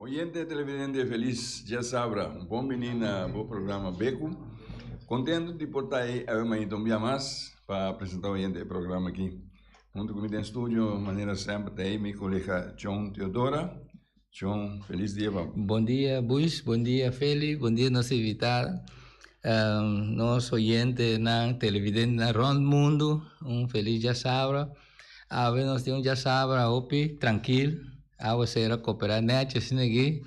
Oyente televidente felis dia sabra, un bon bini na bo programa Beku. Kontentu di por ta ei awe mainta un bia mas pa presenta oyente e programa aki. Huntu ku mi den studio manera semper ta ei mi kolega Chon Teodora. Chon, felis dia pa bo. Bon dia Bush, bon dia Feli, bon dia nos invitada, nos oyentenan, televidentenan rònt mundu un felis dia sabra. Awe nos tin un djasabra hopi trankil, awa sera koperá nètjes asina aki,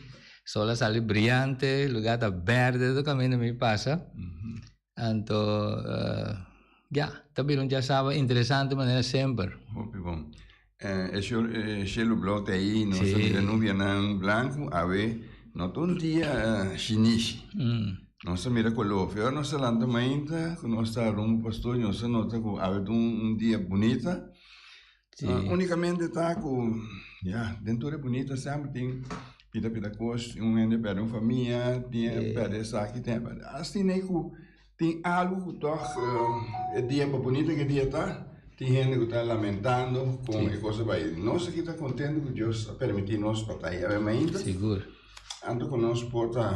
sol a sali briante, lugá ta bèrdè tur kaminda mi pasa, anto ya, ta bira un djasabra interesante manera semper. Hopi bon. E shel e shelu blou ta ei, nos ta mira nubianan blanku, awe no ta un dia shinishi. Nos a mira cu a lofe. Ora nos ta lanta mainta cu nos ta rumbo pa studio nos a nota cu a wet un dia bunita. Sí. Unicamente ta cu ya den tur e bunita semper tin pida pida cos. Un hende perde un famia, tin e perde esaki, tin e perde. Asina ei cu tin algo cu tog e dia pa bunita cu e dia ta tin hende cu ta lamentando con e cos bai. Nos aki ta contento cu Dios a permiti nos pa ta ahiawe mainta. Sigur. Anto cu nos por ta.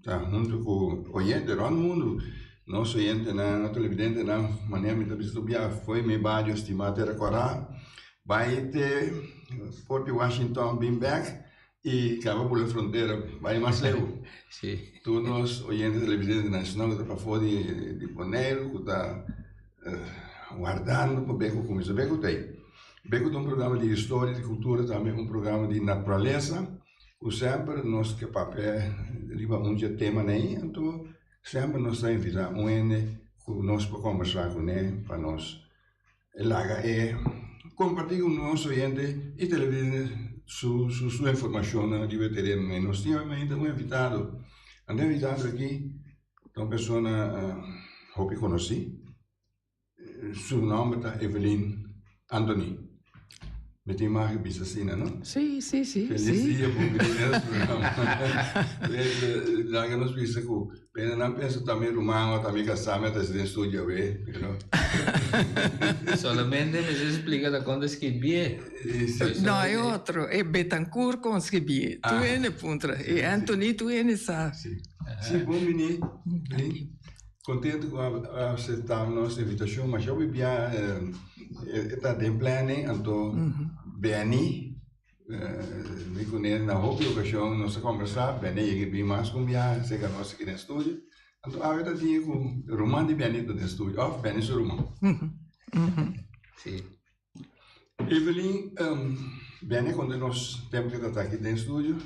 Ta huntu ku oyente rònt mundu. Nos oyentenan, nos televidentenan, manera mi ta bisa tur biaha afoi mi e badio stima te rekorá, bai te Forti Washington bin bèk i kaba bula frontera bai Maceu. Tur nos oyente televidente nasional ku ta pafó di Boneiru, ku ta wardando pa bai ku kuminsá. Bai ku ta ei? Bai ku ta un programa di historia, di kultura, tambe un programa di naturalesa. Ku semper nos ke papia riba un dje teman ei, anto semper nos ta invitá un hende ku nos por kombersá kuné pa nos e laga e kompartí ku nos oyente i televidente su su su informashonnan riba e terennan ei. Nos tin obviamente un invitado, anto e invitado aki ta un persona hopi konosí. Su nomber ta Evelyn Anthony. Mi tin mag a bisa asina, no? Sí, sí, sí. Feliz sí. dia, bom dia, nos programa. Dan que nos bisa cu, pero no pensa también rumano, también casame, hasta si den studio, we, you know. Solamente me se explica da quando escribie. No, é outro. É Betancourt com escrever. Ah. Tu é ne puntra. É Anthony, tu é ne sa. Sí. Sí, bom menino. Kontentu ku a aseptá nos invitashon, ma shòk di bia e ta den planning, anto Benny, mi kuné na hopi okashon nos a kòmbersá, Benny a yega i bin mas ku un biaha serka nos aki den studio, anto awe ta tin ku ruman di Benny ta den studio òf Benny su ruman. Sí. Evelyn bene konta nos tempo ke ta ta aki den studio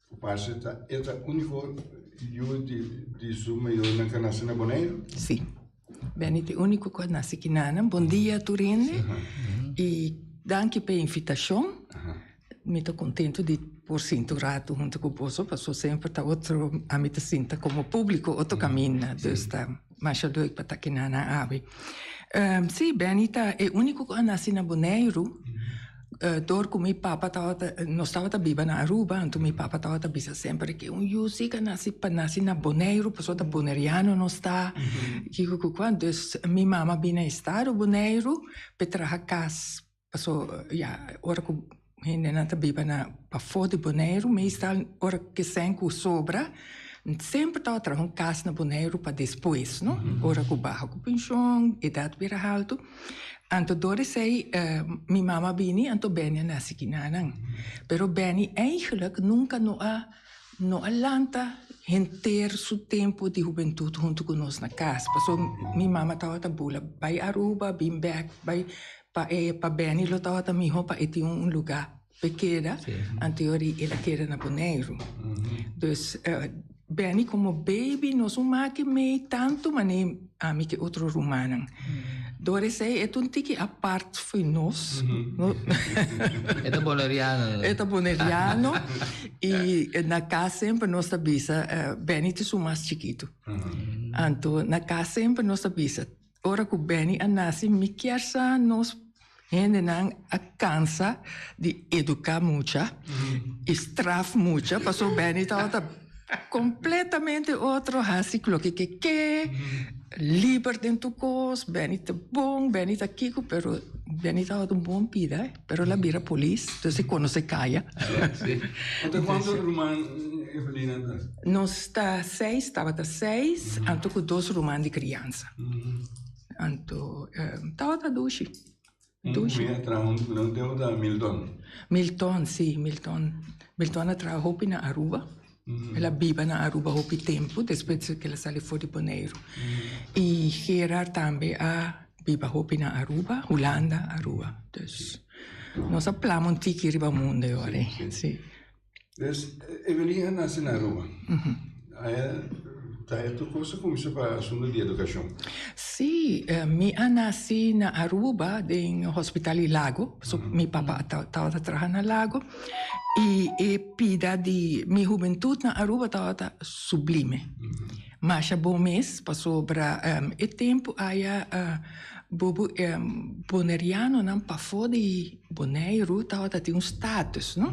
ku parse ta e ta uniko yu di su mayornan ke a nase na Boneiru. Si, bene ta e uniko ku a nase aki nan. Bon dia tur hende i danki pa e invitashon. Mi ta kontentu di por sinti un ratu huntu ku boso pasobra semper ta otro, ami ta sinti komo publiko otro kaminda, dus ta masha leuk pa ta kina nan abi. Si, Benny ta e uniko ku a nasi na Boneiru, dor ku mi papa tabata, nos tabata biba na Aruba, anto mi papa tabata bisa semper di ke un yu si ku a nasi pa nasi na Boneiru pasobra ta Boneriano nos ta, kiko ku kua. Dus mi mama bini na estado Boneiru pa e traha kas Paso ya ora ku hendenan ta biba na pafó di Boneiru meestal ora kesen ku sobra semper tabata traha un kas na Boneiru pa despues no ora ku baha ku penshon edat bira haltu anto dor esei mi mama a bini anto Benny a nasi kinanan pero Benny eigenlik nunka no a no a lanta henter su tempu di hubentut huntu ku nos na kas paso mi mama tabata bula bai Aruba bin bek bai Pa e pa Benny lo tabata miho pa e tin un lugá p'e keda anteori el a keda na Boneiru. Dus Benny komo beibi nos un make mei tantu manei ami ke otro rumannan. Dor esei e ta un tiki apart for nos. E ta Boneriano. E ta Boneriano i na kas semper nos ta bisa Benny ta su mas chikitu. Anto na kas semper nos ta bisa. Ora cu Benny a naci mi kier sa nos hendenan a cansa di educa mucha y straf mucha pasobra Benny tabata completamente otro, haci loke ke ke, liber den tur cos, Benny ta bon, Benny ta kico pero Benny tabata un bon pida. pero el a bira polis, entonces e conoce caya. Ota cuánto ruman e familia antes? Nos ta seis, tabata seis, anto cu dos ruman di crianza. Anto tabata dushi, dushi. Un muhé a traha huntu cu nan, un tempo ta Milton. Milton, si, Milton. Milton a traha hopi na Aruba. El a biba na Aruba hopi tempu despues ku el a sali for di Boneiru. I Gerard tambe a biba hopi na Aruba, Hulanda, Aruba. Dus nos a plama un tiki riba munde ora ei. Sí. Dus Evelyn a nase na Aruba. Ta e tur kos ku mester pa asuntu di edukashon. Sí, mi a nase na Aruba den Hospital di Lago, pasobra mi papa tabata traha na Lago. Y e pida di mi hubentud na Aruba tawa ta sublime. Masha bon mes, pasobra e tempu aya bobo e Bonerianonan pafó di Boneiru tawa ta tin un status, no?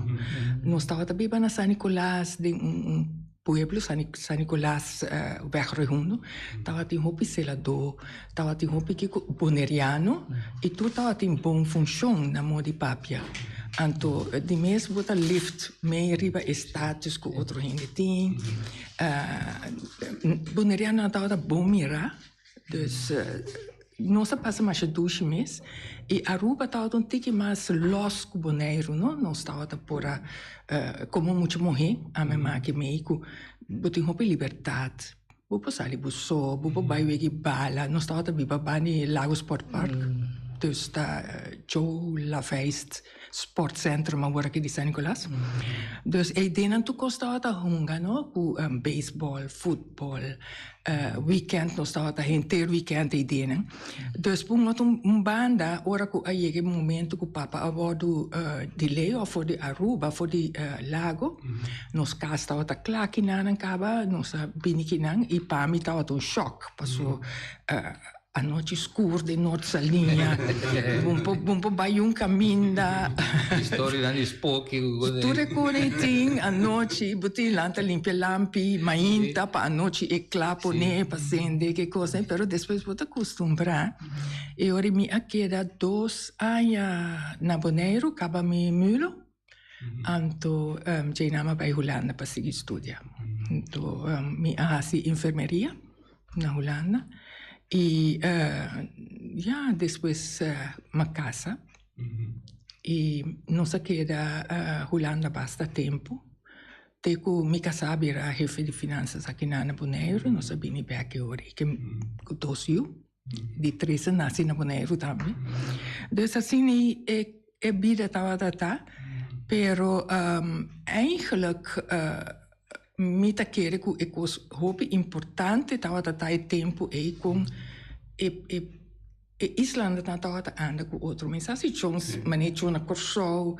Nos tawa ta biba na San Nicolas den un. Por ehemplo San Nicolas weg Rehundo tabatin hopi seladó tabatin hopi kiko boneriano y tur tabatin bon funcion na modi papia anto di mes bo ta lift mey riba e status cu otro hende tin bonerianonan tabata bon mira Dus nos a pasa masha dushi mes y Aruba tawata un tiki mas los cu Boneiru no, nos tawata por a como mucha muhe a me maki mei cu bo tin hopi libertad, bo por sali bo so, bo por bay wegi bala, nos tawata biba bani Lago Sport Park, dus ta Joe Laveist. sportcentrum awor aki di San Nicolas. Dus e idee nan tur con staba ta hunga no cu baseball, football, weekend nos staba ta henter weekend e idee nan. Dus por un otro un banda ora cu a yega e momento cu papa a wordo di ley of for di Aruba for di Lago nos cas staba ta cla kinan nan caba nos a bini kinan y pami tabata un shock pasobra Anochi skur den nort sa liña. Bo por bai un kaminda. Historianan di spoki. Tur e kore i tin anochi bo tin lanta limpia lampi mainta pa anochi e kla pone pa sende ke kos. Pero despues bo ta kustumbrá. E ora mi a keda dos aña na Boneiru kaba mi mulo. Anto Jaynam a bai Hulanda pa sigui studia. Anto mi a hasi infermeria na Hulanda. I ya, despues mi a casa. I nos a keda Hulanda basta tempu. Te ku mi kasá a bira hefe di finansas akina na Boneiru, nos a bini bèk e ora ikee ku dos yu. di trece naci na Boneiru tambe. Dus asina e bida tabata ta, pero eigenlijk mi ta kere ku e kos hopi importante tabata ta e tempu ei kon e islanan tabata anda ku otro mesa. Si chong mane chong na Kòrsou,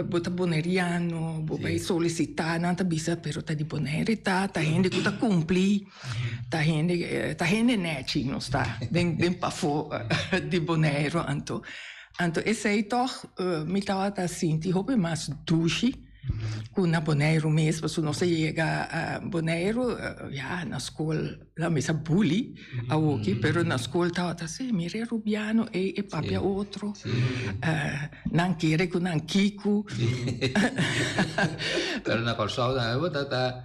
bo ta boneriano, bo bai solisitá, nan ta bisa pero ta di Boneiru e ta, ta hende ku ta kumpli. Ta hende ta hende nechi nos ta den den pafó di Boneiru anto anto esei tòg mi tabata sinti hopi mas dushi ku na Boneiru mes pasobra nos a yega Boneiru ya na skol nan mester buli awoki pero na skol tabata si mira e rubiano ei e papia otro nan kere ku nan kiku. Pero na Kòrsou ta.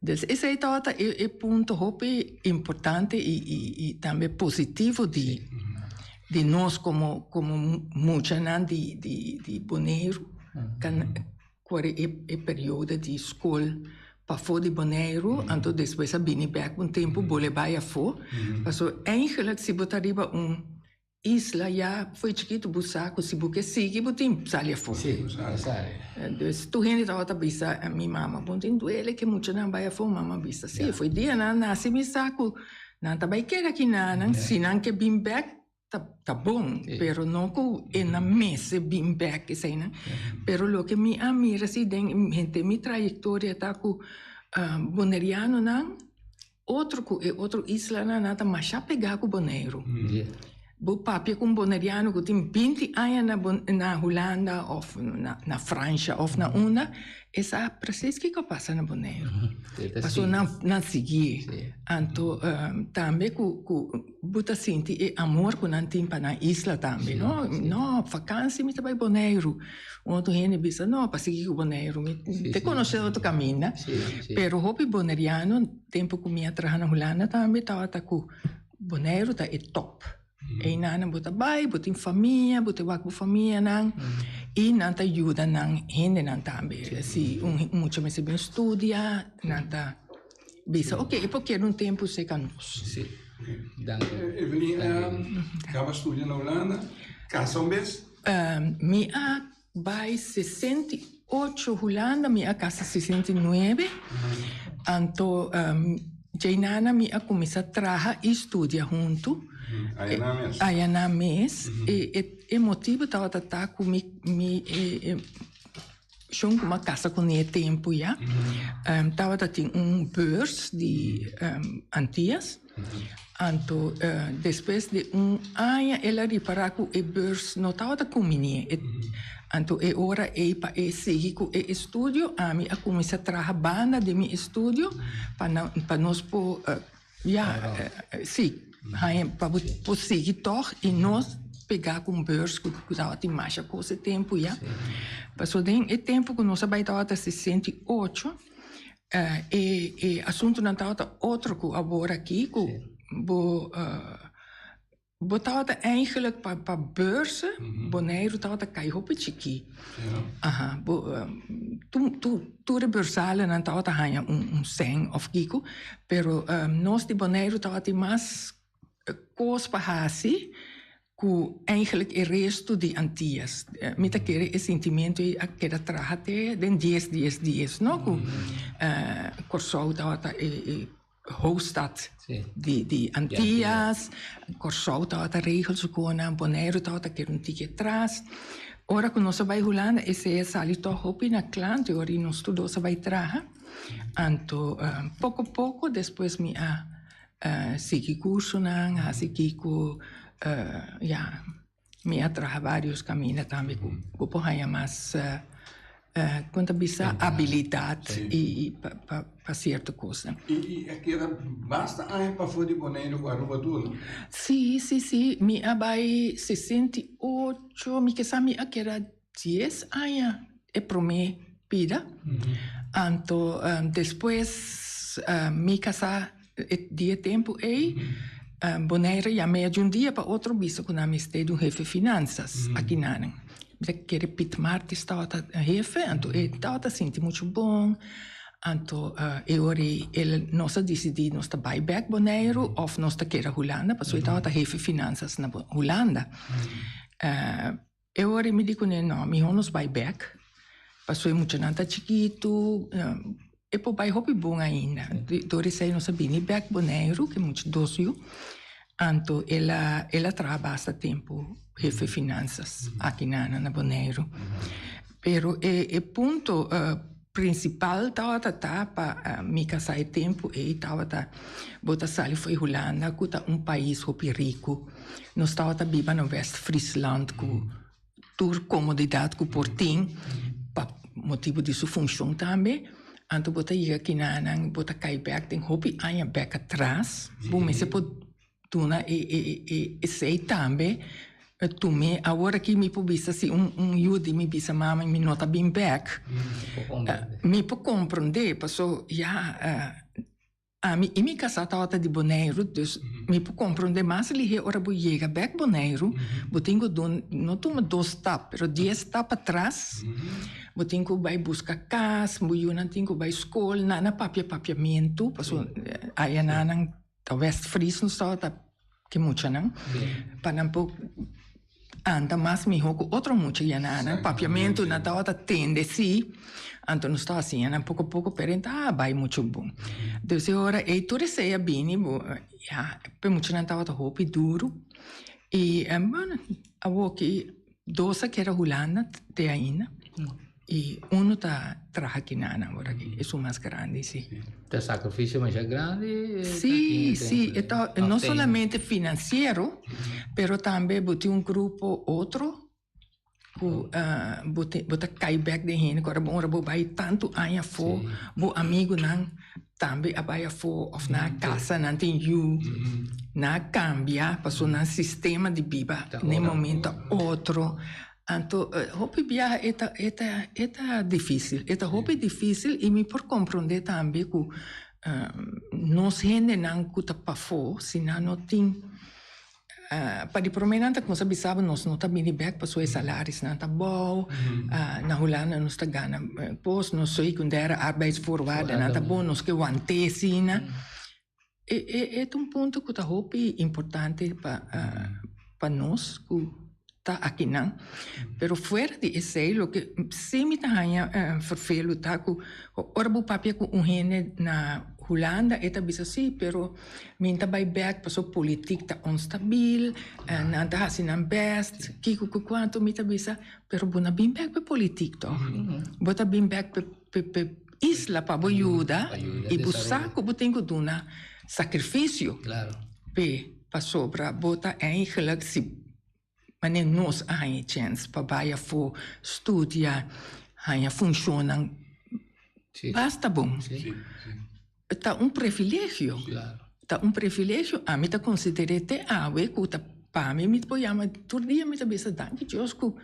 Des esei ta ta e e punto hopi importante i i i tambe positivo di di nos como como muchanan di di di Boneiru can cuari e e periodo di school pafo di Boneiru anto despues a bini bek un tempo bo le bai afo paso eigenlijk si bo ta riba un Isla ya foi chikit bu sa ku si bu ke sigui bu tin sali afó. Si, bu tin ke sali. Entonces tur hende tabata ta bisa mi mama bon tin duele ke muchanan bai afó mi mama bisa si foi dia nan nasi mi sa ku nan ta bai keda aki nanan si nan ke bin bek ta bon pero no ku e na mester bin bek esei nan pero loke mi a mira si den mi trayektoria ta ku bonerianonan. otro cu e otro islanan nan ta masha pegá cu Boneiru. Bo papia cu un Boneriano cu tin binti aña na Bo- na Hulanda of na- na Francia of na unda, e sa precies kico a pasa na Boneiru. Pasobra nan- nan sigui. Anto tambe cu- cu. Bo ta sinti e amor cu nan tin pa nan isla tambe, no? No, vakantie mi ta bay Boneiru. Un otro hende bisa, no, pa sigui cu Boneiru, mi ta conoce otro caminda. Pero hopi Boneriano, tempo cu mi a traha na Hulanda tambe, tabata cu Boneiru ta e top. Eynan nan bo ta bay, bo tin famia, bo ta wak bo famianan, y nan ta yuda nan hendenan tambe. Si un mucha mester bin studia, nan ta. bisa ok e por keda un tempu se ka nos. Sí. Dank u. Evelyn a kaba studia na Hulanda, kasa un bes? Mi a bai sesenta i ocho Hulanda, mi a kasa sesenta i nuebe, anto djei nan nan mi a kuminsá traha i studia huntu. Ayanan mes? Ayanan mes. E motibu tabata ta ku mi mi e. Shon ku m'a kasa ku Ne'e tempu ya, tabata tin un beurs di Antias. Anto despues di un aña el a ripará ku e beurs no tabata kuminé. Anto e ora ei pa e sigui ku e estudio, ami a kuminsá traha banda den mi estudio pa nos por Ya, si, haña pa bo por sigui tòg i no pegá ku un beurs ku tabatin masha kos e tempu ya. Pasobra den e tempu ku nos a bai tabata sesenta i ocho, e e asuntunan tabata otro ku abor aki ku bo Bo tabata eigenlijk pa pa beurs Boneiru tabata kai hopi chikí. Aha, bo tu tu tur e beursalennan tabata haña un un sèn òf kiko, pero nos di Boneiru tabata tin mas kos pa hasi ku eigenlik e restu di Antias. Mi ta kere e sintimentu ei a keda traha te den dies dies dies, no? Ku Kòrsou tabata e e. hoofdstad di di Antillas, Kòrsou tabata regel su konan, Boneiru tabata keda un tiki atras. Ora ku nos a bai Hulanda e sea sali tòg hopi na klanti ora di nos tur dos a bai traha. Anto poko poko despues mi a sigui kursonan, hasi kiko, ya. Mi a traha varios caminda tambe cu cu por haya mas como ta bisa? Habilidad y y pa pa pa cierto cosa. Y y a keda basta aña pafo di Boneiru cu Aruba tur, no? Si, si, si. Mi a bay sesenta i ocho, mi kesa mi a keda. Dies aña e promé bida. Anto despues mi kasá di e tempu ei, Bonaire yam'é di un dia pa otro bisa ku nan mester di un hefe finansas aki nanan. Mi ta kere Piet Martis tabata hefe, anto e tabata sinti muchu bon. Anto e ora ei e nos a disidí nos ta bai bèk Boneiru òf nos ta keda Hulanda, pasobra e tabata hefe finansas na Hulanda. E ora mi di kuné, No, mihó nos bai bèk, pasobra e muchanan ta chikitu, e por bai hopi bon ainda. Dor esei nos a bini bèk Boneiru, ke mucha dos yu, anto el a traha basta tempu hefe finansas aki na Boneiru. Pero e punto Principal tabata ta pa mi casa e tempo ey tabata bo ta sali fo'i Hulanda cu ta un pais hopi rico nos tabata biba na West Friesland cu tur comodidad cu por tin pa motibo di su funcion tambe anto bo ta yega aki nan bo ta cay bek den hopi aña bek atras bo mester por. duna e e e esei tambe tu mi awor aki mi por bisa si un un yu di mi bisa mama mi no ta bin bek mi por comprende paso ya ami y mi casa tawa ta di boneiru dus mi por comprende mas lihé ora bo yega bek boneiru bo tin cu dun no tuma dos stap pero dies stap atras bo tin cu bay busca cas bo yunan tin cu bay school nan a papia papiamentu paso aya nan nan Ta West Frison so ta ki muchanan pa nan por anda mas mihó ku otro mucha ya nan anan papiamentu nan tabata tende sí anto nos ta hasiña nan poko poko pero e ta bai muchu bon dus e ora ei tur esei a bini bo ya p'e muchanan tabata hopi duru i bueno awoki. Dos a keda Hulanda te ainda y uno ta traha kina nan ora aki, esun mas grandi si. Ta sacrificio masha grandi. Si, si, e ta no solamente financiero pero tambe bo tin un grupo otro cu bo ta kai bek den hende cu ora bo bai tanto aña afo bo amigunan. Tambe a bai afó òf nan kasanan tin yu. Nan a kambia pasobra nan sistema di biba n'e momento a otro. Anto hopi biaha e ta e ta e ta difísil. E ta hopi difísil i mi por komprondé tambe ku nos hendenan ku ta pafó si nan no tin Pa di promé nan ta cuminsa bisaba nos no ta bini bek pasobra e salarisnan ta bou. Na Hulanda nos ta gana po nos ta secundaire arbeidsvoorwaardennan ta bon, nos ke want'é asina. E ta un punto cu ta hopi importante pa nos cu. ta akinan. Pero fuera di esei loke si mi ta haña vervelu ta ku ora bo papia ku un hende na Hulanda e ta bisa si pero mi ta bai bek pasobra politik ta onstabil, nan ta hasi nan bèst, kiko ku kuantu mi ta bisa pero bo na bin bèk pa politik tòg, bo ta bin bèk pa. Pe isla pa bo yuda y bo sa cu bo tin cu duna sacrificio p'e pasobra bo ta ein geluk si manera nos a haña e chens pa bay afo studia, haña funcionnan basta bon. Ta un privilegio, ta un privilegio. Ami ta consider'e te awe cu ta pa mi mi ta por yama tur dia mi ta bisa danki Dios cu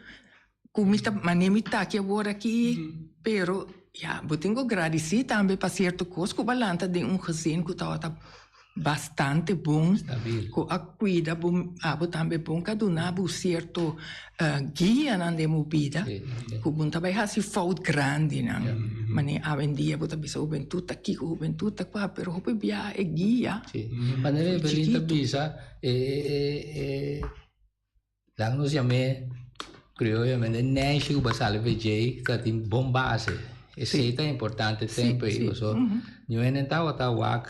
cu mi ta mane mi taki awor aki, pero ya, bo tin cu gradici tambe pa cierto cos cu bo a lanta den un gezin cu tabata bastante bon, cu a cuida bo, abo tambe bon, cu a duna bo cierto guianan den bo bida, cu bo no ta bay haci fout grandenan. Mane awendia bo ta bisa hubentut ta kico, hubentut ta cua, pero hopi bia e guia. Manera Evelyn ta bisa, e, e, e. Nan nos yam'é crioyomente neshi ku basali fe dje ka tin bon base. Esei ta importante tempu ei paso niun hende no tabata wak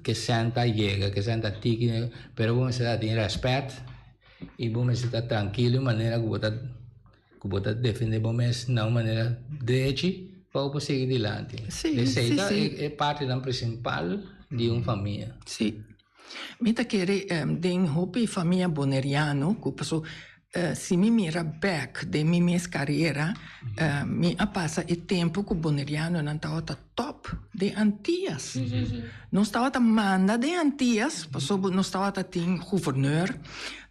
ke sènta yega, ke sènta tiki, pero bo mester a tin rèspèt i bo mester ta trankil di un manera ku bo ta ku bo ta defendé bo mes na un manera drechi pa bo por sigui dilanti. Esei ta e partinan presimpal di un famia. Mi ta kere den hopi famia boneriano ku paso si mi mira bek den mi mes karera mi a pasa e tempu ku bonerianonan tabata top den antias. Nos tabata manda den antias pasobra nos tabata tin guvernor,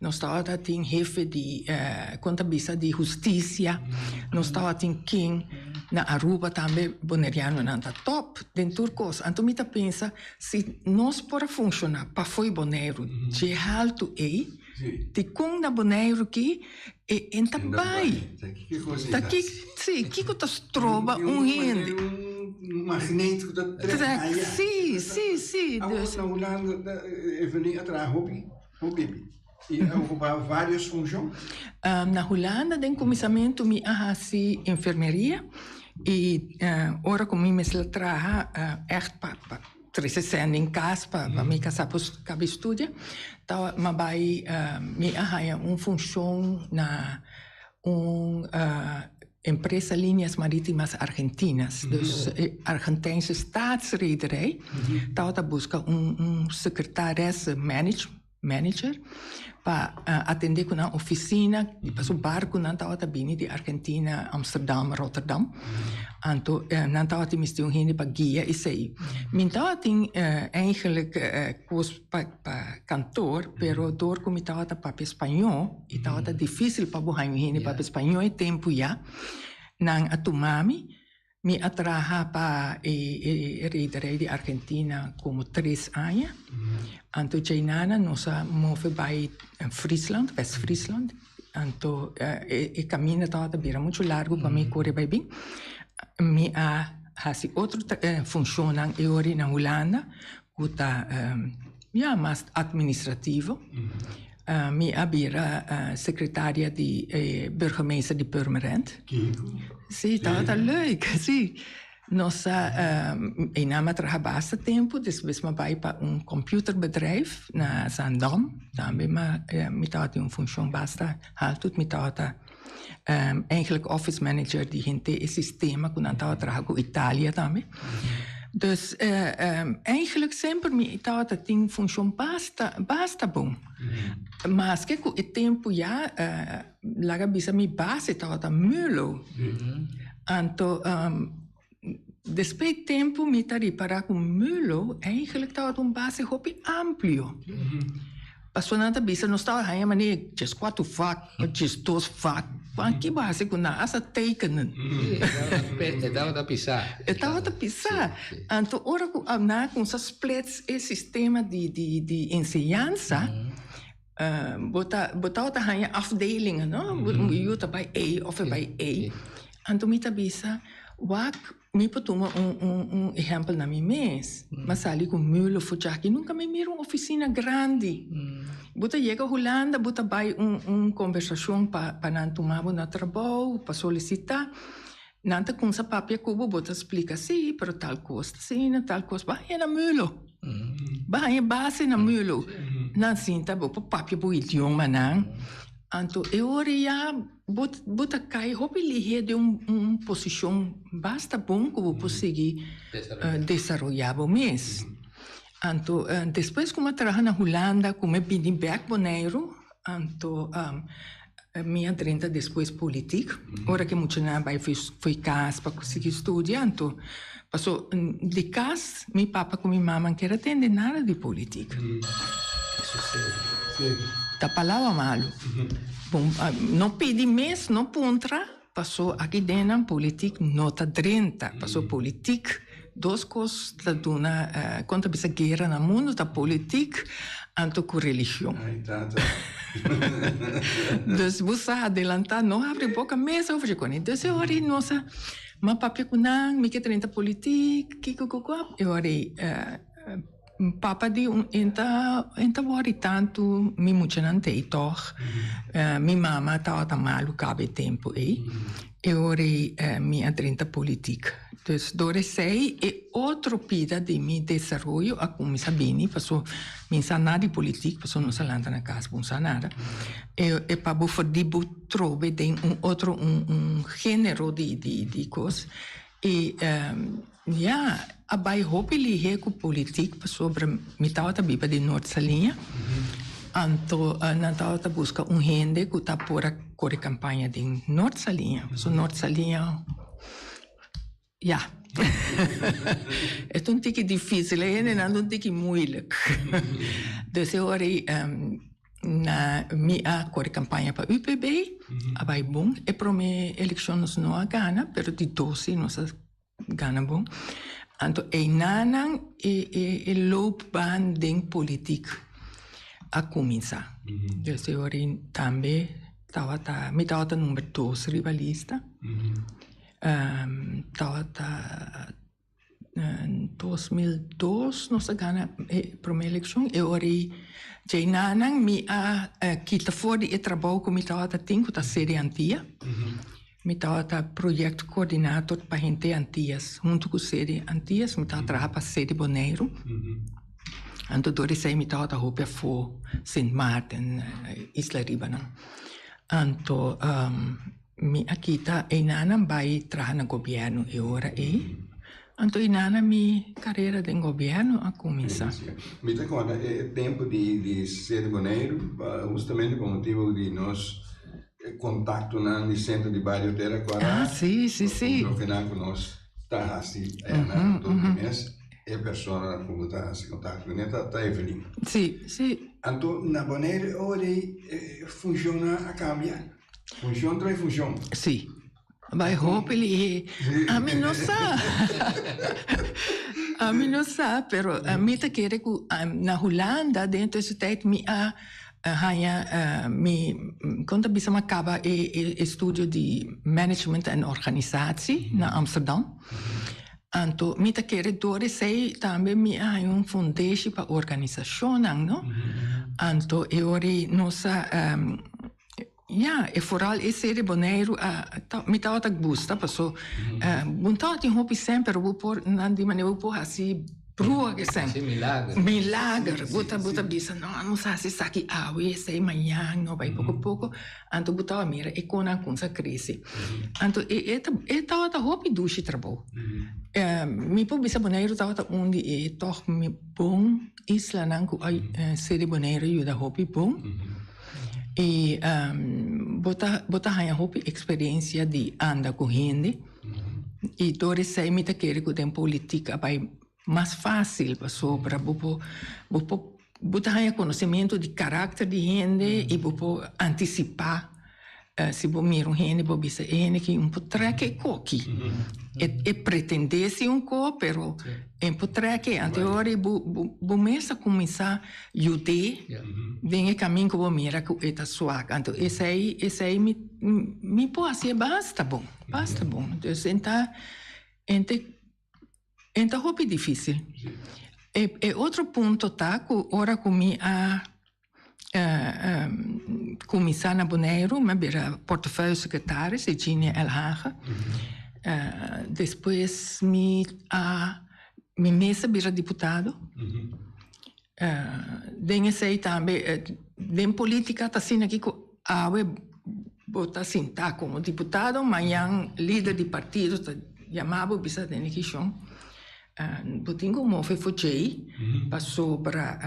nos tabata tin hefe di kon ta bisa di hustisia, nos tabata tin king. Na Aruba tambe bonerianonan ta top den tur kos. Anto mi ta pensa. Si nos por a funciona pafo'i Boneiru dje haltu ei, di con na Boneiru ki e hende ta bai? Ta ki, si, kico ta stroba un hende? Trek, si, si, si. Awo na Hulanda ta e veni a traha hopi, hopi. I a okupá vários funshon? Na Hulanda den kuminsamentu mi a hasi enfermeria i ora ku mi mester a traha ègt pa tres sesenta den kas pa mi ka sa por kaba e studia ta mi bai mi a haña un funshon na un empresa Líneas Marítimas Argentinas dus e argentijnse staatsrederij tabata buska un sekretaresse manage. manager pa atende cu nan oficina di paso barconan tawata bini di Argentina, Amsterdam, Rotterdam. Anto nan tawata misti un hende pa guia esey. Mi tawa tin eigenlijk cos pa pa kantoor pero door cu mi tawata papia spañó y tawata dificil pa bo haya un hende papia spañó e tempo ya nan a tuma mi. Mi a traha pa e rederij di Argentina como tres aña. Anto djei nana nos a move bai Friesland, West-Friesland. Anto e caminda tabata ta bira mucho largo pa mi cori bai bin. Mi a haci otro funccionnan e ora na Hulanda. cu ta ya mas administrativo. Mi a bira secretaria di e burgemeester di Purmerend. Ki rico. Si, tabata leuk, si. Nos a, Eina mi a traha basta tempo, despues mi a bai pa un computerbedrijf na Zaandam, tambe mi a, mi tabata den un funcion basta haltu, mi tabata. Eigenlijk office manager di henter e sistema ku nan tabata traha ku Italia tambe. Dus eigenlijk semper mi tabata tin funshon basta basta bon. Maske ku e tempu ya laga bisa mi base tabata mülo. Anto Despues di tempu mi ta ripará ku Mulo eigenlijk tabata un base hopi amplio. Pasornan ta bisa nos tabata haña manera di djes kuater vak òf djes dos vak. Wan ki base ku nan as a teikenen. E tabata pisá. E tabata pisá. Anto ora ku nan a kumsa splet e sistema di enseñansa. Bo ta, bo tau ta hanja afdelingen, no? Yu ta bai ei of e bai ei. Anto mi ta bisa, wak mi por tuma un, un, un ehèmpel na mi mes. Mi a sali ku Mühle of ku Chaki. Nunka mi mira un ofisina grandi. Bo ta yega Hulanda, bo ta bai un, un kombersashon pa, pa nan tuma bo na trabou, pa solisitá. Nan ta kumsa papia ku bo, bo ta splika, sí, pero tal kos ta asina, tal kos. Bo haña na mulo. Bo haña base na mulo. Nan sinta, bo por papia bo idioma nan. Anto e ora ya bo, bo ta kai hopi lihé den un posishon basta bon ku bo por sigui desaroyá bo mes. Anto, despues ku mi a traha na Hulanda, ku mi a bini bèk Boneiru, Anto mi a drenta despues politic, ora cu e muchanan a bay fo'i cas pa sigui studia, anto paso di cas mi papa cu mi mama kier a tende nada di politic. Ta palabra malo, no pidi mes, no puntra. Paso aki dennan politic no ta drenta, paso politic dos cos ta duna con ta bisa guera na mundo ta politic anto cu religion. Dus bo sa adelanta no habri boca mes over e cona. Dus e ora no sa ma papia cu nan mi ke drenta politic kiko kiko e ora Papa di un enta en ta worry tantu mi muchanan ta ei tog mi mama tabata malu caba e tempo ei e ora ei mi a drenta politic dus dor esey e otro pida di mi desaroyo a cuminsa bini paso mi sa nada di politic paso no sa lanta na cas bo sa nada e pa bo for di bo trobe den un otro un genero di di cos y. Ya a bai hopi lihé ku politik pasobra mi tabata biba den Nort Saliña. Anto nan tabata buska un hende ku ta por a kore kampaña den Nort Saliña. So Nort Saliña ya e ta un tiki difísil, e hendenan ta un tiki muilik. Dus e ora ei nan mi a kore kampaña pa UPB, a bai bon. E promé elekshon nos no a gana, pero di dos ei nos a. Gana bon. Anto einanan e loopbaan den politik a kuminsá. Djosé Jorin tambe tabata, mi tabata number dos riba lista. Tabata dos mil dos nos a gana e promé elekshon. E ora ei, djei nanan mi a kita for di e trabou ku mi tabata tin, ku ta Serie Antia. Mi tabata proyecto coordinator pa hente Antillas. Hunto cu sede Antillas mi taba traha pa sede Boneiru. Anto dor esey mi tabata hopi afo Sint Maarten, isla riba nan. Anto mi a kita eina nan bay traha na gobierno e ora ey. Anto eina nan mi carera den gobierno a cuminsa. Mi ta conta e tempo di sede Boneiru pa justamente pa motibo di nos. e contactonan di Centro di Bario te recorda Ah, sí, sí, nos sí. control final cu nos ta haci allá na Anto Guines, e persona cu nos ta haci contacto cu ne ta, ta Evelyn. Sí, sí. Anto na Bonaire ora ei e funcionnan a cambia, funcion trae funcion. Sí. Bai hopi lihé. Ami no sa. Ami no sa, pero ami ta kere ku na Hulanda den tur su tèit mi a haña mi, kon ta bisa mi a kaba e studio di management en organisatie na Amsterdam. Anto mi ta kere dor esei tambe mi a haña un fondeshi pa organisashonnan, no? Anto e ora ei nos a. Ya, e foral ese de Boneiru a ta, mi tabata gusta paso bo no tabata tin hopi sèn pero bo por nan di manera bo por hasi brua ke sèn. Hasi milager. Milager. Bo ta bo ta bisa no nos a hasi esaki awe, esei mañan, no bai poko poko. Anto bo tabata mira e konan kos a krese. Anto e e ta e tabata hopi dushi trabou. Mi por bisa Boneiru tabata un di e tòg mi bon. islanan ku a sede Bonaire yuda hopi bon i bo ta haña hopi eksperensia di anda ku hende i dor esei mi ta kere ku den politik a bai mas fásil pasobra bo por bo por bo ta haña konosementu di karakter di hende i bo por antisipá. Si bo mira un hende bo bisa e hende aki un potrek e koki. E pretende si un ko pero e un potrek e. Anto e ora bo mes a kuminsá yud'é den e kamin ku bo mira ku e ta swak. Anto esei esei mi por hasi e basta bon, basta bon. Entonces enta enta en ta hopi dificil. E e otro punto ta cu ora cu mi a cuminsa na Boneiru, mi a bira portefeuille secretaris di Jeannie L. Hage. Despues mi a, mi mes a bira diputado. Den esey tambe, den politica ta asina kico. Awe bo ta sintá komo diputado, mañan lider di partido ta yamá bo bisa den e kishon. Bo tin ku un mofe for djei pasobra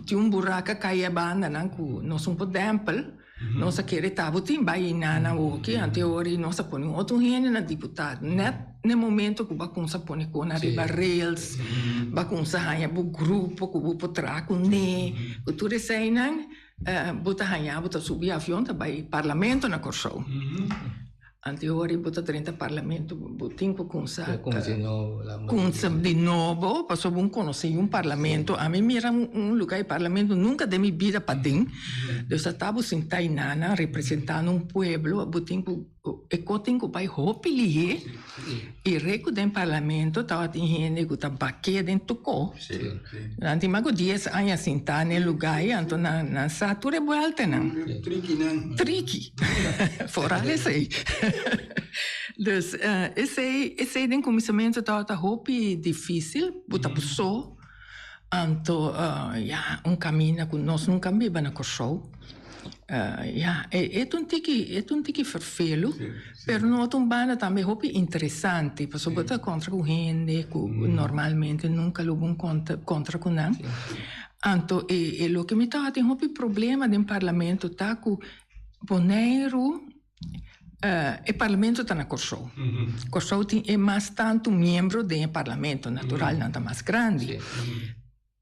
tin un buraka kai e bandanan ku nos un por dèmpel. Nos a kere ta bo tin bai i na nan woki anto ora i nos a pone un otro hende na diputado. Nèt n'e momento ku bo a kumsa pone kona ariba rails, bo a kumsa haña bo grupo ku bo por traha kuné, ku tur eseinan. Bo ta haña bo ta subi avion ta bai parlamento na Kòrsou. Anto hori bo ta drenta parlamento bo tin ku kumsa kumsa di nobo pasobra bo konosé un parlamento. Ami mira un lugá di parlamento nunka den mi bida paden. Bo ta sinta ei nan nan representando un pueblo bo tin ku E korting ku bai hopi lihé i rei ku den parlamento tabatin hende ku ta bak'é den tokó. Nan tin mas ku dies aña sintá n'e lugá ei, anto nan sa tur e buèltanan. Trikinan. Triki, foral esei. Dus, esei, esei den kuminsamentu tabata hopi difísil, bo ta bo so. Anto ya un caminda cu nos nunca a biba na Corsou. Ya e ta un tiki e ta un tiki ferfelu pero no ta un banda tambe hopi interesante pasobra bo ta contra cu hende cu normalmente nunca lo bon contra cu nan. Anto e loke mi tabatin hopi problema den parlamento ta cu Boneiru. E parlamento ta na Kòrsou. Kòrsou tin e mas tantu miembro den e parlamento, natural nan ta mas grandi.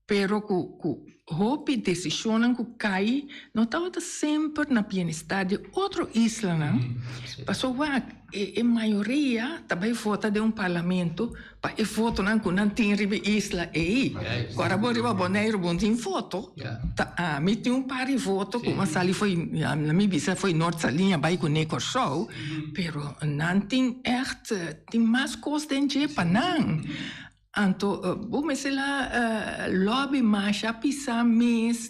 Pero ku ku hopi desishonnan ku kai no tabata semper na bienestar di otro islanan, pasobra e mayoria ta bai vota den un parlamento, Pa e fotonan ku nan tin riba e isla ei, ku a rabó riba Boneiru bo tin foto, ta mi tin un par di foto ku a sali for na mi bisa for Noord Saliña bai kuné Kòrsou, pero nan tin ègt tin mas kos den dje pa nan. Anto bo mester la lòbi masha, a pisá mes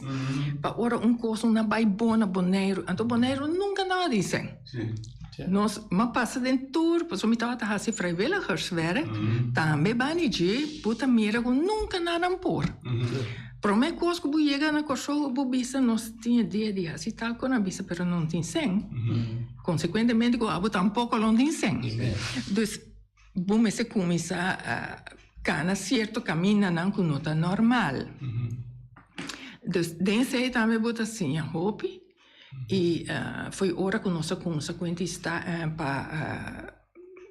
pa ora un kos na bai bon na Boneiru. Anto Boneiru nunka no a disen. Nos ma pasa den tur, pasobra mi tabata hasi vrijwilligerswerk tambe bani dje, bo ta mira ku nunka nadan por. Promé kos ku bo yega na Kòrsou bo bisa nos tin e dia di hasi tal kos, nan a bisa pero nan tin sen, konsekuentemente ku abo tampoko lo tin sen. Dus bo mester kuminsá kana sierto kamindanan ku no ta normal. Dus den esei tambe bo ta siña hopi. y foi ora cu nos a cuminsa cu identidad pa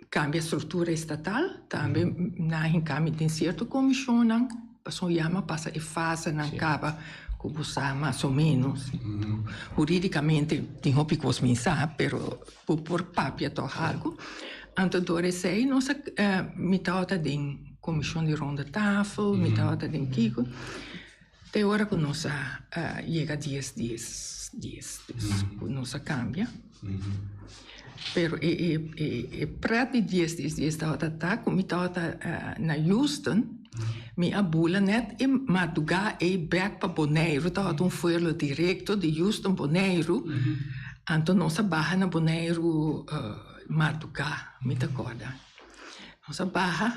cambia structura estatal, tambe nan a hinca mi den cierto comisionnan pasobra ya mi a pasa e fasenan caba cu bo sa mas o menos. Juridicamente tin hopi cos mi sa, pero bo por papia toch algo. Anto door esey nos a, mi tabata den comision di rondetafel, mi tabata den kico. Te ora ku nos a yega dies dies dies dies ku nos a kambia, pero e e e prat di dies dies dies tabata ta ku mi tabata na Houston, mi a bula nèt e madrugá ei bèk pa Boneiru, tabata un vuelo direkto di Houston Boneiru, anto nos a baha na Boneiru madrugá, mi ta kòrda. Nos a baha.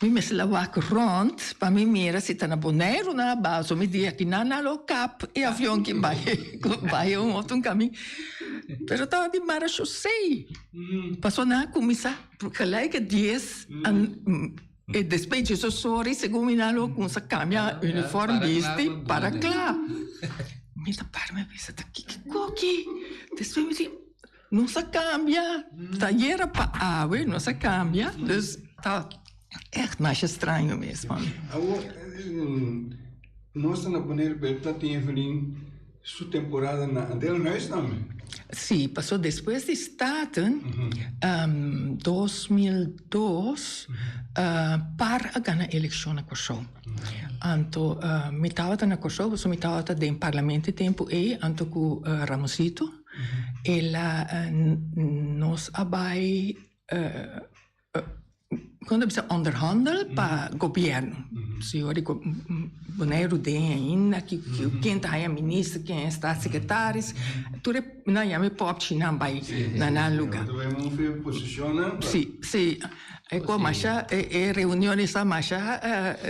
Mi mes la wak rond pa mi mira si ta na Boneiru na Abazo. Mi di aki na na lo kap e avion ki bai ku bai un otun kami. Pero tawa di marasho sei paso nan a kuminsá gelijk e dies a e despecho so sori segun mi nan lo kumsa kambia uniform bisti para kla. Mi ta para mi bisa ta kiko aki? Despues mi di. Nos a kambia, ta yera pa awe, nos a kambia, dus ta ègt masha straño mesmu. Awor, nos ta na poner pa e plateveling su temporada na den huis tambe? Sí, pasobra despues di Staten, dos mil dos, par a gana elekshon na Kòrsou. Anto mi tabata na Kòrsou, pasobra mi tabata den parlamento e tempu ei, anto ku Ramosito. e la nos a bai kon ta bisa onderhandel pa gobierno si ora di Bonaire den ainda ki ken ta haña minister ken ta haña statsecretaris tur e nan yama e popchi nan bai na nan luga si si. E kua masha e reunion di sa masha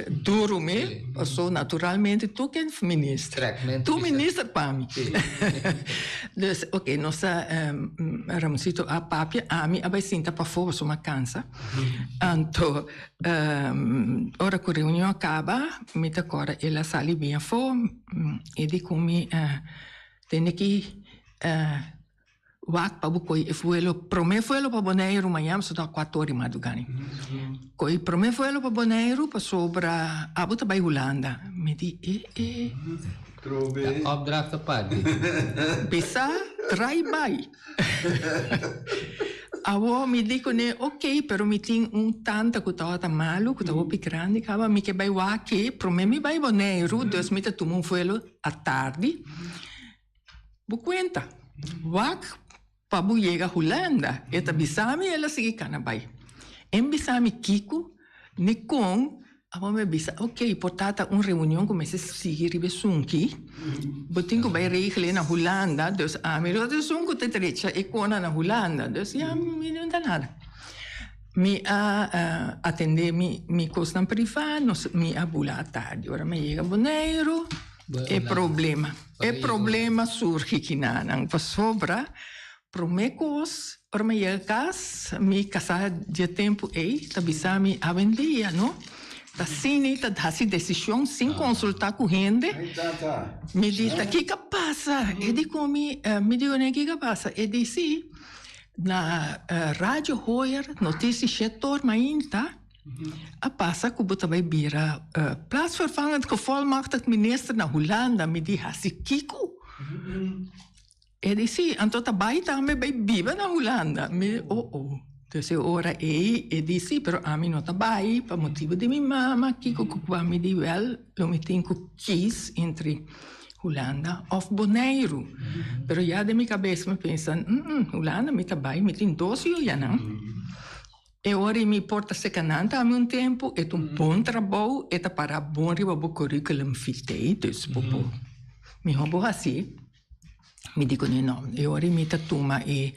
duru mi paso naturalmente tur ken minister tur minister pa mi dus oke nos ta Ramoncito a papia ami a bai sinta pafo paso mi a cansa anto ora cu reunion a caba mi ta cora el a sali bien afo y di cu mi tende ki Wak pa bo koi e vuelo, prome vuelo pa Boneiru mañan pasobra a kuator di madruga ni. Koi prome vuelo pa Boneiru pasobra abo ta bai Hulanda. Mi di e e. Trobe. Ta opdracht aparte. Bisa trai bai. Awor mi di kuné ok pero mi tin un tanta ku ta wata malu, ku ta hopi grandi kaba, mi ke bai wak e prome mi bai Boneiru, dus mi ta tuma un vuelo atardi. Bo cuenta, wak pa bo yega Hulanda. E ta bisa mi el a sigui cana bay. E mi bisa mi kico ni con, abo mi a bisa, ok, por tata un reunion cu mester sigui riba esunki, bo tin cu bay regla na Hulanda, dus ami lo ta esun cu ta derecha e cona na Hulanda. Dus ya mi no inta nada. Mi a atende mi cosnan priva, mi a bula atardi. Ora mi a yega Boneiru, e problema. E problema surgi kinanan pasobra prome kos ora mi a yega kas mi kasá dje tempu ei ta bisa mi awendia no ta sini ta hasi desishon sin konsultá ku hende mi di ta kiko pasa e di kon mi mi di kuné kiko pasa e di si na radio hoyer notisi shèt tor mainta. A pasa ku bo ta bai bira Plaatsvervangend Gevolmachtigd Minister na Hulanda, mi di, Hasi kiko? E di, Si, anto ta bai tambe bai biba na Hulanda. Mi di, O-o. Dus e ora ei e di, Si, pero ami no ta bai pa motibu di mi mama, kiko ku kua? Mi di, Wèl, lo mi tin ku kies entre Hulanda òf Boneiru. Pero ya den mi kabes mi pensa, Hm, Hulanda mi ta bai, mi tin dos yojanan. E ora i mi por ta seka nan ta ami un tempu, e ta un bon trabou, e ta para bon riba bo curriculum vitae, dus bo por mihor bo hasi. Mi di kuné no, e ora i mi ta tuma e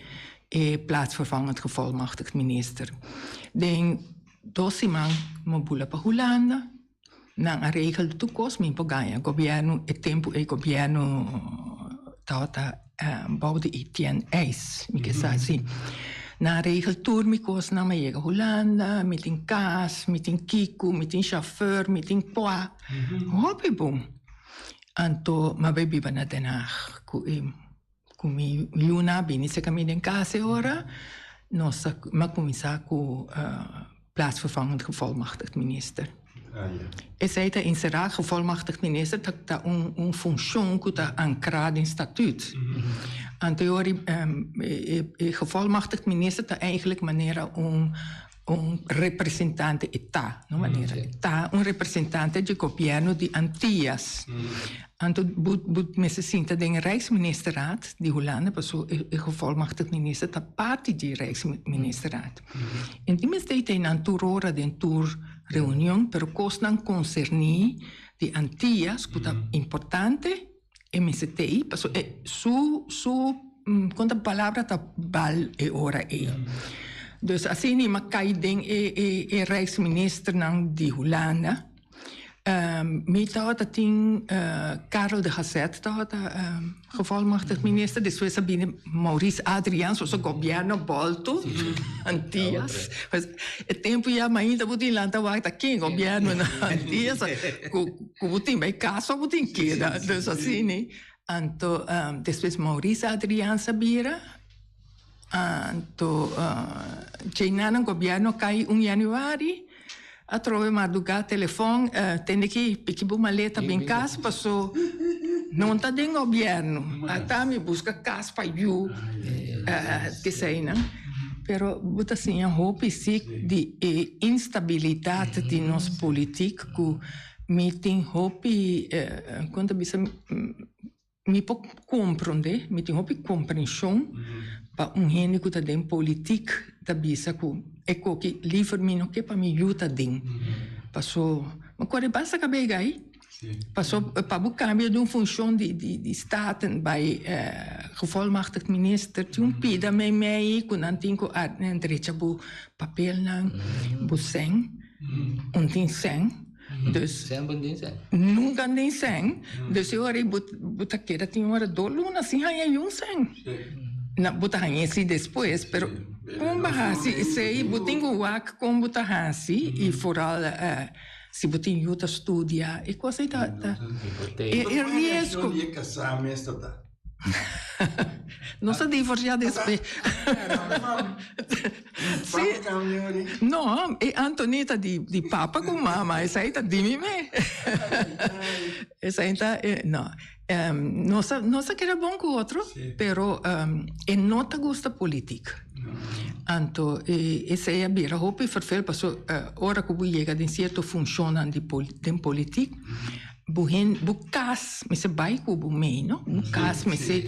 e plaatsvervangend gevolmachtigd minister. Den dos siman mi a bula pa Hulanda. Nan a regel tur cos mi por ganja gobierno e tempo ey gobierno tabata bou di Etienne Eyss mi ke sa si nan a regel tur mi cos nan mi a yega Hulanda mi tin cas mi tin kiko mi tin chauffeur mi tin pua hopi bon anto mi a bai biba na Den Haag cu e Cu mi luna a bini cerca mi den casa e ora, nos a cuminsa cu Plaatsvervangend Gevolmachtigd Minister. Esey ta encerra, Gevolmachtigd Minister ta un funcion cu ta ancra den Statuut. Anto e ora e Gevolmachtigd Minister ta eigenlijk manera un un representante e ta, no manera e ta un representante dje gobièrnu di Antias. Anto bo bo mester sinta den e Rijksministerraad di Hulanda paso e e gevolmachtigd minister ta parti di e Rijksministerraad. En tin mester ta e nan tur ora den tur reunion pero kosnan konserní di Antias ku ta importante, E mester tei, pasobra e su su kon ta palabra ta bal e ora ei. Dus asina i mas kai den e e e rijksministernan di Hulanda. Mi tabata tin Karel de Hazet tabata gevolmachtigd minister, despues a bini Maurice Adriaens, so gobierno bolto Antias. E tempo ya mainta bo tin lanta wak ta ken gobierno na Antias. Cu bo tin bay casa bo tin keda dus así ne. Anto despues Maurice Adriaans a bira anto djey nan nan gobierno cay un januari atrobe marduga telefon tende ki piki bo maleta bin cas paso non ta den gobierno ata mi busca cas pa yu eseynan pero bo ta siña hopi sic di e instabilidad di nos politiek. cu mi tin hopi, como ta bisa, mi por comprende, mi tin hopi comprension pa un hende cu ta den politic ta bisa cu e co ki liever mi no ke pa mi yu ta den. Paso, mi core basta caba e gai, paso pa bo cambia di un funcion di staten bay gevolmachtigd minister, tin un pida meimei cu nan tin cu a, nan drecha bo papelnan, bo cen. Un tin sèn, dus Sèn bo tin sèn. nunka un tin sèn. Dus e ora ei bo bo ta keda tin un ora dor luna sin haña i un sèn. Na bo ta haña esei despues, pero kon bo a hasi esei? Bo tin ku wak kon bo ta hasi i foral si bo tin yu ta studia. E kos ei ta ta e riesgo. Nos a divorciá despues. sí. No, e Anthony ta di, di papa con mama. Esa ta di mi me. Esa ta, eh, no. Um, nos, a, nos a queda bon con otro, sí. pero um, e no ta gusta política. No. Anto, e, esa e bira hopi vervel, paso, uh, ora que llega de cierto función de, pol, de política, bu hen bu kas mester bai ku bo mei no bu kas mester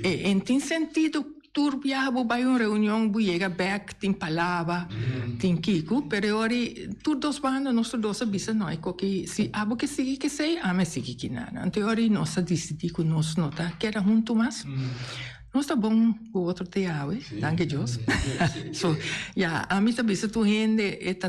en tin sentido tur biaha bo bai un reunion bo yega bek tin palaba tin kiko pero e ora tur dos banda nosotros dos a bisa no hay ko ke si abo ke sigui kesey ami a sigui kina no enton e ora nos a disidi ku nos no ta keda hunto mas nos ta bon ku otro te yawe danki Dios so ya ami ta bisa tur hende e ta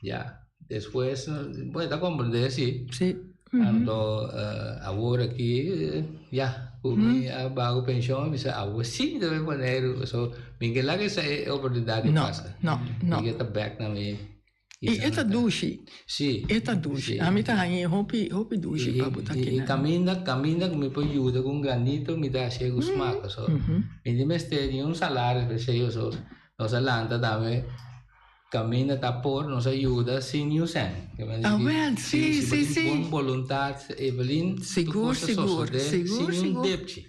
ya despues bo ta comprende si anto awor aki ya cu mi a baco pension mi sa awo si ta bay boneiru so mi ke laga esa oportunidad di pasa mi ke ta bek na mi y e ta dushi si e ta dushi ami ta hañi hopi hopi dushi pa bo ta kina y caminda caminda cu mi por yuda cu un granito mi ta hacié cu smak so mi tin mester di un salario per se yo so nos a lanta tambe Caminda ta por nos a yuda sin niun cent. Ke mester di ki si si bo tin bon boluntat Evelyn tur cos ta sosode sin niun depchi.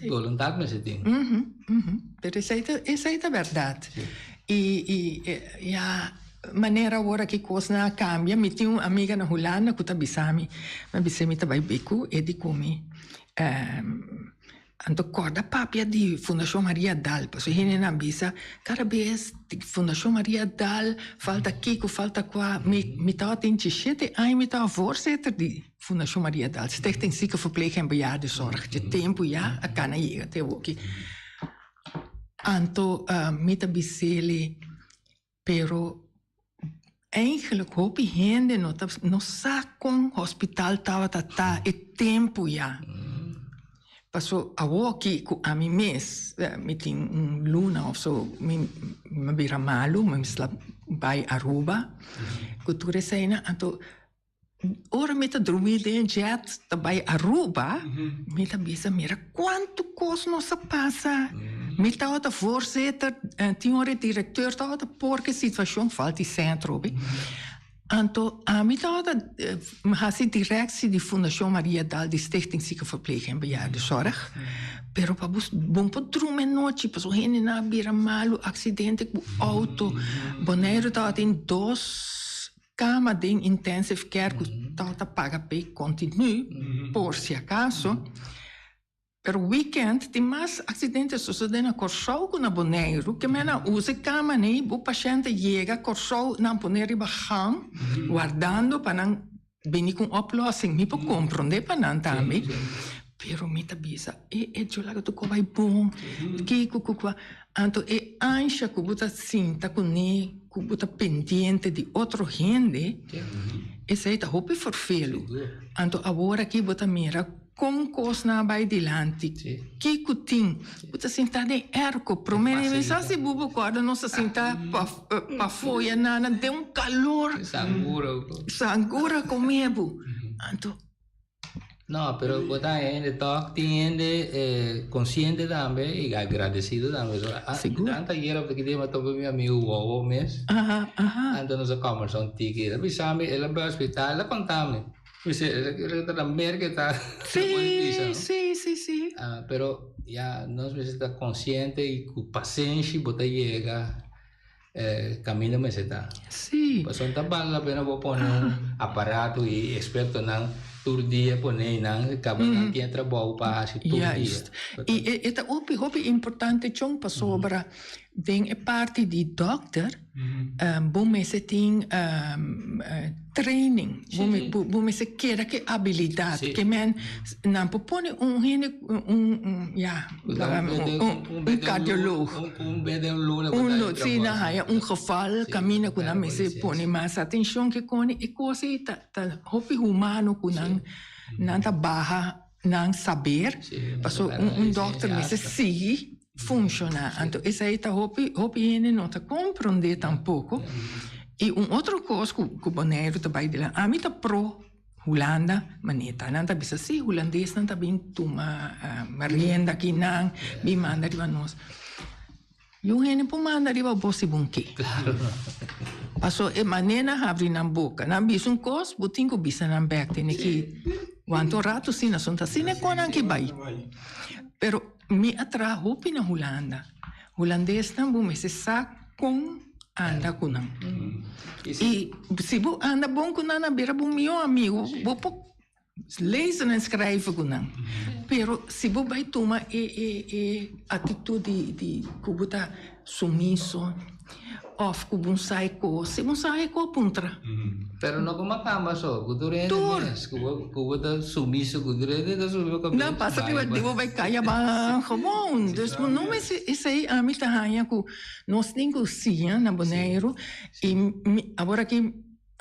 Boluntat mester tin. Pero esai ta esai ta berdad. Y y ya manera awor aki cosnan a cambia mi tin un amiga na Hulanda cu ta bisa mi mi a bisa mi ta bay bicu e di cu mi Anto kòrda papia di Fundashon Maria Dal, pasobra hendenan bisa kada bes Fundashon Maria Dal falta kiko, falta kua. Mi mi tabata tin djishete aña mi tabata voorzitter di Fundashon Maria Dal, Stichting Ziekenverpleeg en Bejaardenzorg, dje tempu ya a kana yega te awoki. Anto mi ta bis'ele. Pero eigenlijk hopi hende no ta no sa kon hospital tabata ta e tempu ya. Paso awo aki ku ami mes mi tin un luna of so mi mi a bira malu mi a mester bai Aruba ku tur esei nan anto Ora mi ta drumi den e jet ta bai Aruba, mi ta bisa, mira kuantu kos nos a pasa. Mi tabata voorzitter en tin ora e directeur tabata por ki situashon falta e sentro, obe. Anto ami tabata hasi directie di Fundashon Maria Dal di Stichting Ziekenverpleging en Bejaardenzorg, pero pa bo bo no por drumi e nochi pasobra hendenan a bira malu, accidente ku outo. Bonaire tabata den dos. kama den intensive care ku tabata ta paga p'e kontinú por si akaso, pero weekend tin mas aksidente sosodé na Kòrsou ku na Boneiru, ke men a usa e kama nei, bo pashente yega Kòrsou nan pone riba ham wardando pa nan bini ku un oplòsing, mi por komprondé pa nan tambe, pero mi ta bisa e e djòl a tokoba e bon, kiko kukua. Anto e ansha ku bo ta sinta ku ne ku bo ta pendiente di otro hende, esei ta hopi forfelu. Anto awor aki bo ta mira kon kosnan a bai dilanti, ki ku tin. Bo ta sinta den erko. Promé di mes sa si bo por kòrda nos a sinta pafó ya nana den un kalor. Sangura komé bo. Anto. No, pero bo ta hende tok, tin hende eh, consciente tambe y agradecido tambe. So, ah, Seguro. dan ta yera porque tema tope mi amigo Wowo mes. Aha, aha. Anto nos a conversar un tiki. Él avisame, él al hospital, él contame. Dice, él él era mer que está. Sí, sí, sí, sí. Ah, pero ya nos mismo está consciente y con paciencia bo ta llega. eh, camino mester ta. Sí. Pason ta bal la pena bo pone un aparato y experto nan tur dia pone y nan caba mm -hmm. nan tiene trabajo pa hacer tur Juist. dia. Juist. Y e, eta hopi hopi importante chon pasobra mm -hmm. den e parte di dokter mm -hmm. um, bo mester tin um, uh, Training, bo mester keda cu e abilidad, ke men, nan por pone un hende, ya, un cardioloog, un geval camina cu nan mester pone mas atencion kikoni e cosa ei ta hopi humano cu nan ta baha nan saber, pasobra un doctor mester sigui. funciona anto esai ta hopi hopi hende no ta comprende tampoco y un otro cos cu cu Bonaire ta bay dilanti ami ta pro Hulanda mane ta nan ta bisa si Hulandes nan ta bin tuma rienda aki nan bin manda riba nos y un hende por manda riba bo si bo ke paso e mane nan habri nan boca nan a bisa un cos bo tin cu bisa nan bek tene ki wanta un rato asina so ta asina cu nan ke bay pero. Mi a traha hopi na Hulanda. Hulandesnan bo mester sa kon anda ku nan. I si bo anda bon ku nan a bira bo mihó amigu. Bo por lezen en skreive ku nan. Pero si bo bai tuma e atitut di ku bo ta. Sumiso, of cu bon sa e cos. Si bon sa e cos, puntra. Pero no coma camba so, cu tur hende mes cu bo ta sumiso cu tur hende ta sumiso cu bo. Pasa riba di bo bay caya ban gewoon. Dus bo no mester esey ami ta haya cu nos tin cosiña na Boneiru y mi aworakí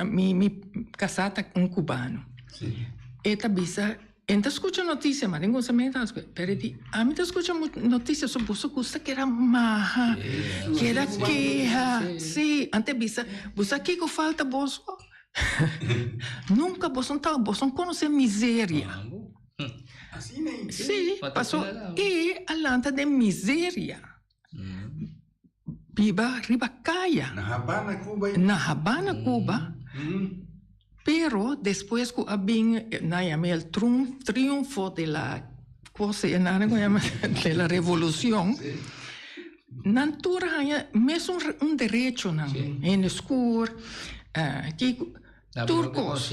mi casa ta un cubano. E ta bisa. Enta a scucha noticia ma den un semana asco pero e di ami ta scucha noticia so boso gusta keda maha keda keha si ante a bisa bo sa kico falta boso nunca boso no tawba boso no conoce miseria si pasobra e a lanta den miseria. biba riba kaya. Na Habana, Cuba ey. Na Habana, Cuba. Pero despues cu a bin, nan yama el triunfo de la cosa enana cu a yama de la revolucion, nan tur haya mesun un derechonan, hende scur, kiko. Tur kos.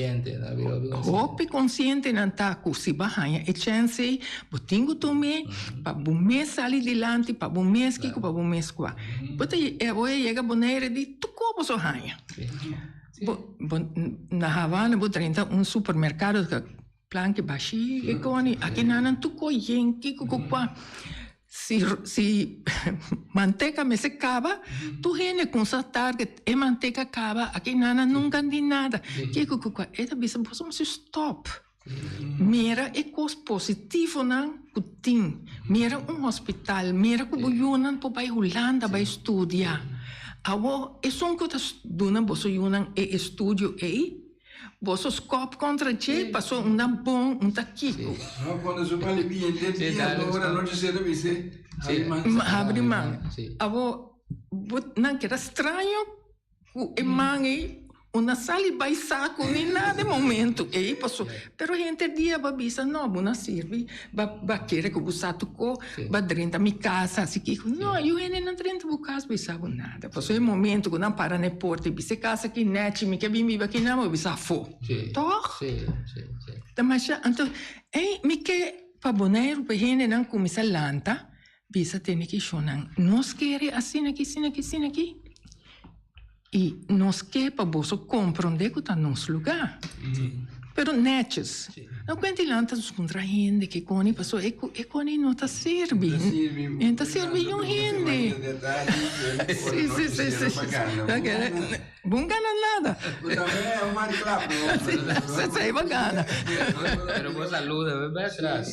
Hopi konsientenan ta ku si bo haña e chèns ei, bo tin ku tuma e pa bo mes sali dilanti, pa bo mes kiko, pa bo mes kua. Bo ta bo a yega Bonaire di tur kos bo so haña. Na Havana bo drenta un supermerkado. Plan ke bashi e koni aki nanan tu koyen ki ku ku kwa si si manteka mester kaba tur hende konstatar ke e manteka kaba aki nanan nunka di nada ki ku ku kwa e ta bisa boso mester stop mira e kos positivonan ku tin mira un hospital mira ku bo yunan por bai hulanda bai studia awor esun ku ta duna boso yunan e estudio ei. Boso skop kontra dje paso un ta bon un ta kiko. Habri man. Abo bo nan keda straño ku e man ei un na sali bai saku ni nada e momentu ei paso pero henter dia aba bisa no bo na sirbi. Ba ba kere ku bo sa tokó, ba drenta mi kas hasi kiko. No, yu hende no drenta bo kas, bo i sa bo nada. Pasobra e momento ku nan para na e porta i bisa e kas aki nèchi, mi ke bin biba aki nada mas, bo bisa afó. Tòg? Damashi, anto, ei, mi ke pa Boneiru, pa e hendenan kuminsá lanta, Bisa tende ki shonnan, Nos kere asina aki, asina aki, asina aki, i nos ke pa boso komprondé ku ta nos lugá, pero nètjes. No kuenta i lanta nos kontra hende ke koni, pasó e ku e koni no ta sirbi, e ta sirbi yun hende. Sí, sí, sí, sí, sí. Bon gana nada. Sesa e bo gana. Pero bo saluda, bo bai tras.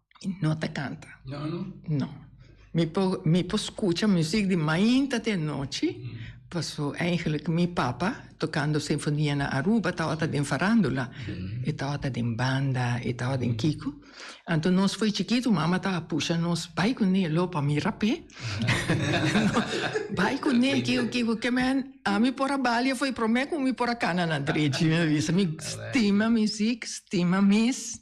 no ta canta. No, no. No. Mi por, mi por escucha muziek di mainta te anochi, paso eigenlijk mi papa tocando sinfonia na Aruba tawata den farandula, e tawata den banda, e tawa den kiko. Anto nos for chikito mama ta pusha nos bai cu ne lo pa mira pe. bai cu ne kiko kiko ke men ami por a balia for e prome cu mi por a cana na drechi mi a bisa. Mi stima muziek, stima mis.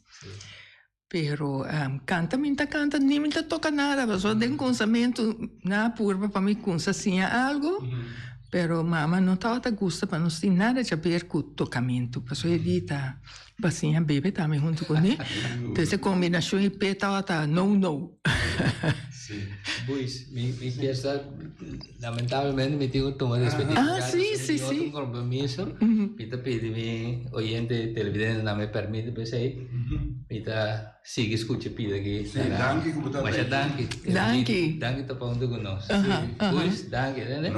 Pero kanta mi ta kanta ni mi ta toka nada pasobra den kunsamentu nan a purba pa mi kunsa siña algu pero mama no tabata gusta pa nos tin nada caber ku tokamentu pasobra e di ta ba siña bebe tambe huntu ku mi entonces e kombinashon i pe tabata nou nou. Boys mi kier sa. Lamentablemente mi tin cu tuma despedir mi radio so mi tin otro compromiso mi ta pidi mi oyente y televidente nan me permite pesey mi ta sigui scucha e pida aki na radio masha danki Edelito danki topa hunto cu nos Luis danki entende.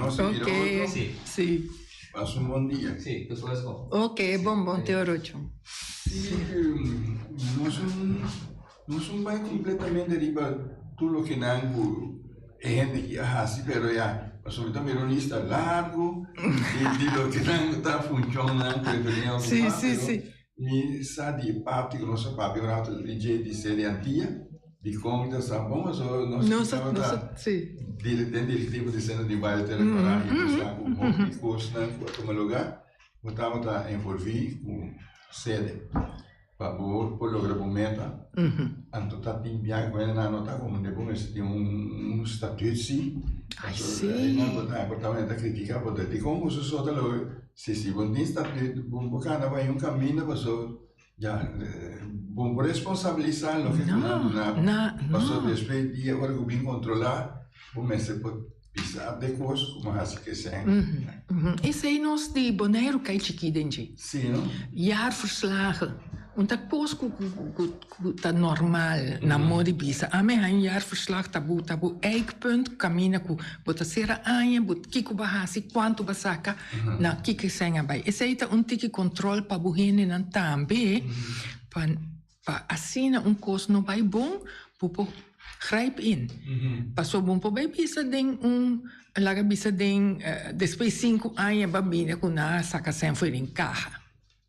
Nos un bai completamente riba tur loke nan cu e hende aki a haci, pero ya, pasobra tambe era un lista largo di loke nan cu ta funcionnan cu e beren a ocupa, pero mi sa di e parti cu nos a papia un rato dj di Celiantia, di con ta sa bon, pasobra nos a kibaba ta den directivo di Centro di Baile Terra Colorada y ta sa cu hopi cosnan cu a tuma lugar, bo tabata envolvi cu Cele. Pa bo por logra bo meta, anto ta tin bia ku hende nan nota komo bo mester tin un statuut si. Pasobra e nan ku ta aportamentu ta kritika bo ta di kon bo su so ta logra. Si si bo tin statuut bo no por kanda paña un kaminda pasobra ya bo no por responsabilisa loke ku nan duna bo. Pasobra despues dia ora ku bin kontrolá bo mester por. Bisa ap de kos ku mi hasi ku esei. Esei nos di Boneiru kai chikí den dje. Sí no. Jaarverslagen, un ta kos ku ku ta normal na mor di bisa. Ami haña un jaarverslag ta bo ta bo eikpunt kaminda ku bo ta sera aña, bo kiko bo a hasi, kuantu bo a saka, na kiko esei a bai. Esei ta un tiki kòntròl pa bo hendenan tambe pa. Pa asina un kos no bai bon bo por grijp in pasobra bo no por bai bisa den un laga bisa den despues di sinku aña bo a bini ku nan a saka esei afuera den kaha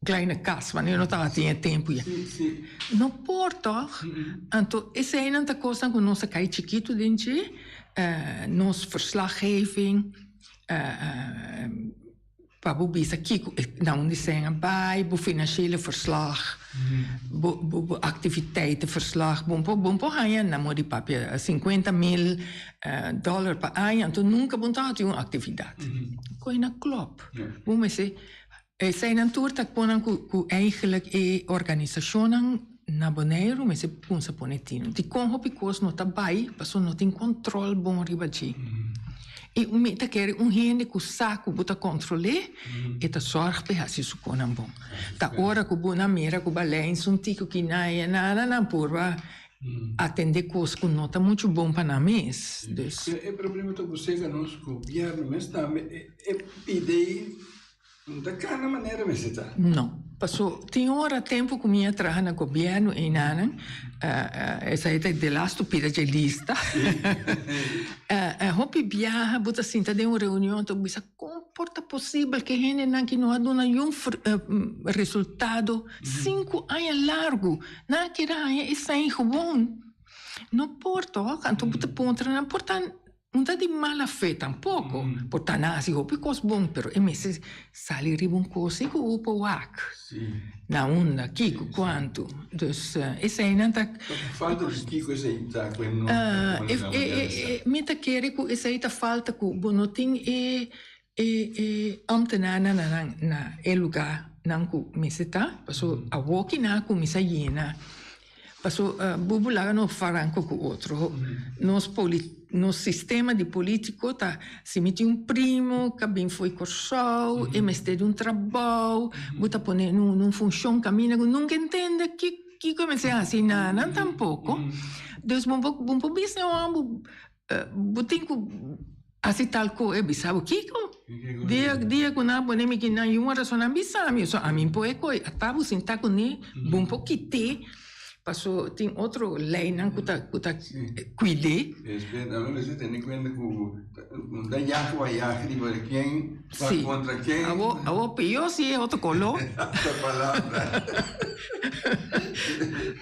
klai na kas wans nan no tabata den tempu ya no por tog anto esei nan ta kosnan ku nos a kai chikitu den dje nos verslaggeving. Pa bo bisa kiko e na un diseña bai, bo financiële verslag, bo bo bo activiteiten verslag, bo bo bo por haña na modi papia cincuenta mil dollar pa aña, anto nunca bo ta hasi un actividad. Cu e na clop. Bo mester eseinan tur ta cu nan cu cu eigenlijk e organisacionnan. Na Boneiru mester kumsa pone tino. Dikon hopi kos no ta bai pasobra no tin kòntròl bon riba dje. I mi ta kere un hende ku sa ku bo ta kòntrol'é, e ta sòrg pa e hasi su konan bon. Ta ora ku bo na mira ku balei n'su un tiko ki na e nada nan purba atendé kos ku no ta muchu bon pa nan mes. Dus. E problema ta ku sega nos gobièrnu mes tambe e pidei. N ta cana manera mester ta. No. Paso tin ora tempo cu mi a traha na gobierno y nanan, esai ta de las stupida dje lista, e hopi biaha bo ta sinta den un reunion ta bo bisa con por ta posible que e hendenan que no a duna yu resultado cinco aña largo nan a keda haya esai gewoon? No por toch, anto bo ta puntra nan por ta. Un ta di mala fe tampoko, por ta nan hasi hopi kos bon, pero e mester sali riba un kosi ku hu por wak na unda, kiko, kuantu. Dus eseinan ta. Ku falta di kiko esei ta ku e no ta pone na manera sa? Mi ta kere ku esei ta falta ku bo no tin e. E e ambtenaar nan a nan na e lugá nan ku mester ta, paso awor kina a kuminsá yena, paso bubu laga no faranko ku otro, nos poli nos sistema di polítiko ta si mi tin un primo ka bin fo'i Kòrsou e mester di un trabou, bo ta pone en un funshon kaminda ku nunka e ntende ki kiko e mester hasi nan nan tampoko, dus bo bo bo por bisa e hò bo Bo tin cu haci tal co, e bisa bo, Kico? Dia cu nan a pone mi aquí nan yu un razon, nan bisa mi, so ami por e coi ata bo sinta cu ne, bo por kite, paso tin otro leinan cu ta cuide. Respet, a mi bisa tene cuenta cu bo ta yaje wai yaje riba de ken. Ta kontra ken? Awor pior si e otro color. Ta palabra.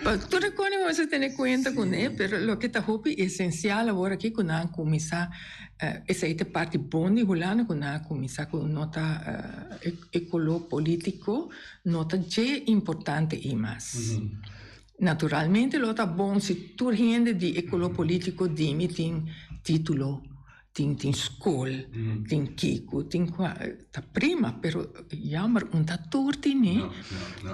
Pa tur e kone mester tene kuenta kuné, pero loke ta hopi esencial awor aki ku nan a kuminsá, esei ta e parti bon di hulanda ku nan a kuminsá ku no ta e color politico no ta dje importante ei mas. Naturalmente lo ta bon si tur hende di e color politico dimi tin titulo. tin tin skol tin kiko tin kua ta prima pero yamber un ta tur tin e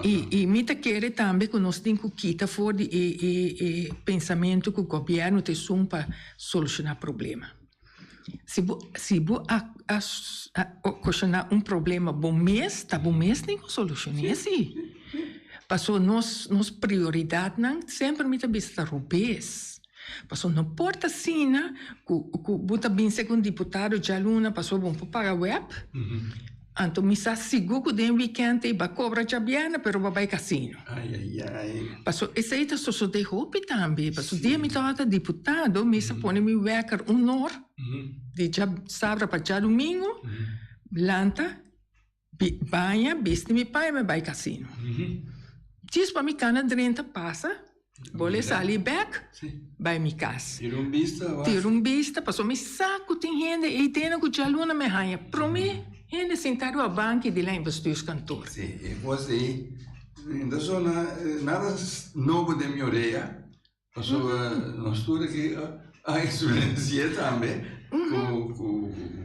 i i mi ta kere tambe ku nos tin ku kita for di e e e pensamentu ku gobièrnu ta esun pa solushoná problema si bo si bo a a a okoshoná un problema bo mes ta bo mes nin ku solushoné si paso nos nos prioridatnan semper mi ta bisa ta rubes. Pasobra no por ta asina cu cu bo ta bin segun diputado dja luna pasobra bo no por paga web. Anto mi sa sigur cu den weekend ey ba cobra dja bierne pero ba bay casino. Pasobra esey ta sosode hopi tambe. Pasobra dia mi tabata diputado mi sa pone mi wekker un or di dja sabra pa dja domingo lanta. Mi baña, bisti mi pai, mi bai casino. Djisba mi cana drenta pasa, bole sali bek, bai mi cas. Tira un bista, pasobra mi sa cu tin hende ey dena cu djaluna mi a haña prome hende sinta riba banki di lijn bestuurskantoor. E cos ey ta sona nada nobo den mi orea. Paso nos tur aki a influenci'é tambe ku ku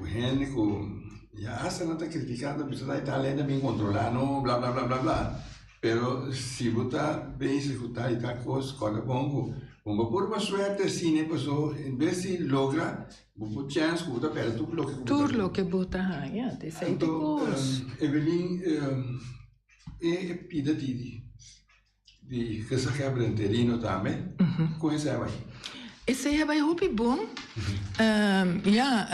hende ku ya asta nan ta kritik'á ta bisa ta Italia ta bin kontrolá no bla bla bla bla bla pero si bo ta basic ku tal i tal kos kòrda bon ku bon bo puru pa suerte asina i paso en bes di logra bo por chèns ku bo ta pèrdè tur loke ku bo ta haña anto Evelin e pida di. Di kasa kebra interino tambe? Ku e seba ei? E seba ei hopi bon. Ya,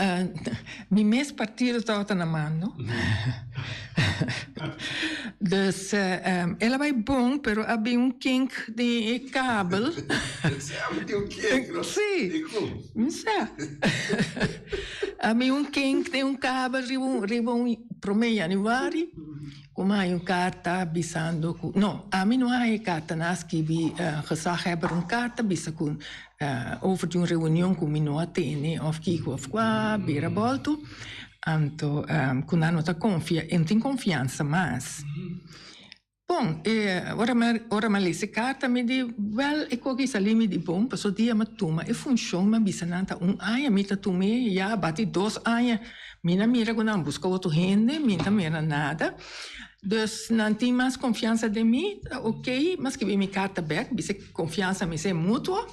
mi mes partido tabata na mando. Dus, el a bai bon, pero a bin un kink den e kabel. E seba tin un kink, no? Si. I ku? Mi sa. A bin un kink den un kabel riba un, riba un, prome januari. Ku mi haya un karta bisando ku. No, ami no haya e karta nan a skibi gezaghebber un karta bisa ku over di un reunion ku mi no a tene òf kiko òf kua bira bòltu, anto ku nan no ta konfia, e no tin konfiansa mas. Bon, e ora mi ora mi a lesa e karta mi di, wèl e kos ki sali mi di bon, pasadiaMi a tuma e funshon mi a bisa nan ta un aña mi ta tuma e, ya a bati dos aña. Mi na mira ku nan buska otro hende, mi ta mira nada. Dus nan tin mas konfiansa den mi, ta okay, mi a skibi mi karta bek, bis'e konfiansa mi ser mutuo.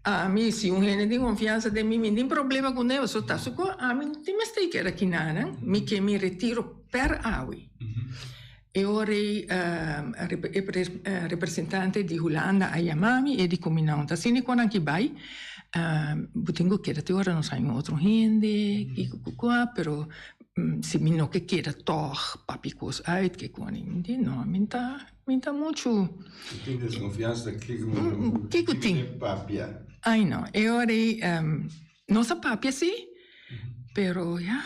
Ami, si un hende tin konfiansa den mi, mi no tin problema ku nan, pasobra ta su kos, ami no tin mester keda kina nan, mi ke mi retiro per awe. E ora ei e representante di Hulanda a yama mi, e di Kuminau ta sende kon nan ki bai, bo tin ku keda te ora nos a haña otro hende, kiko kikua, pero si mi no ke keda tòg papia kos ùit ke koni, mi di no, mi ta, mi ta muchu, kiko tin, ai no, e ora ei nos a papia si, pero ya.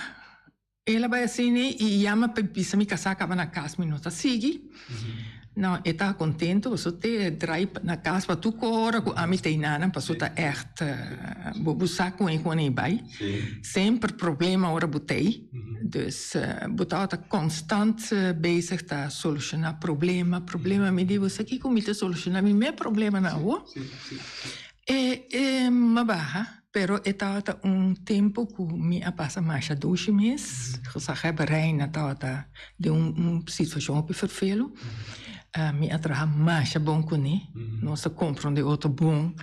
El a bai asina y e yama pa e bisa mi casa caba na cas mi no ta sigui. No, e ta contento paso te draai na cas pa tur cora cu ami ta e nanan paso ta echt bo bo sa con e cu aney bai. Semper problema ora bo ta ey. Dus bo tawa ta constant bezig ta soluciona problema, problema. Mi di bo sa kico mi ta soluciona mi mes problemanan awo? E e maba ha. Pero e tabata un tempu ku mi a pasa masha dushi mes. Gezaghèber Reina tabata den un situashon hopi ferfelu. Mi a traha masha bon kuné. Nos a kompra un di otro bon.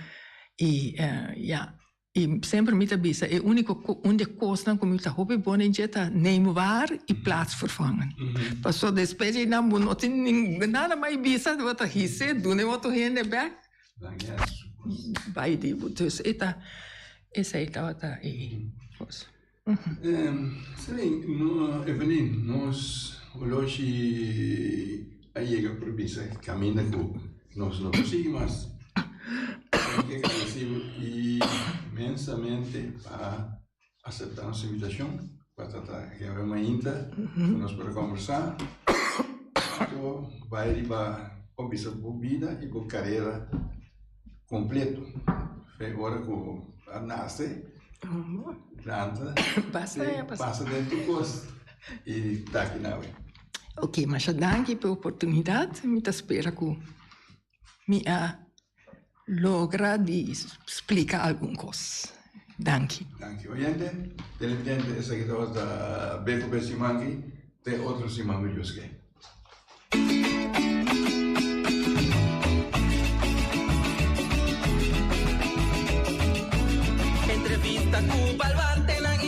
I ya, i semper mi ta bisa e úniko un di e kosnan ku mi ta hopi bon den dje ta neem waar i plaatsvervangend. Paso despues di nan bo no tin nada mai bisa, bo ta hise duna e otro hende bèk. Bai di bo dus e ta esei tabata e kos. Evelyn, nos holoshi a yega por bisa e kaminda ku nos no por sigui mas. Tenke grandesibu inmensamente pa. asepta nos invitashon pa trata e ora mainta ku nos por a kombersá ku bai riba bo bisa bo bida i bo karera kompletu. Fe ora ku a nase, planta, te pasa den tur kos i taki nan awe. Ok, masha danki pa e oportunidat. Mi ta spera ku. mi a logra di splika algun kos. Danki. Danki oyente, televidente, esaki tabata ta be ku be siman aki te otro siman ku Dios ke. Entrevista ku balwante nan.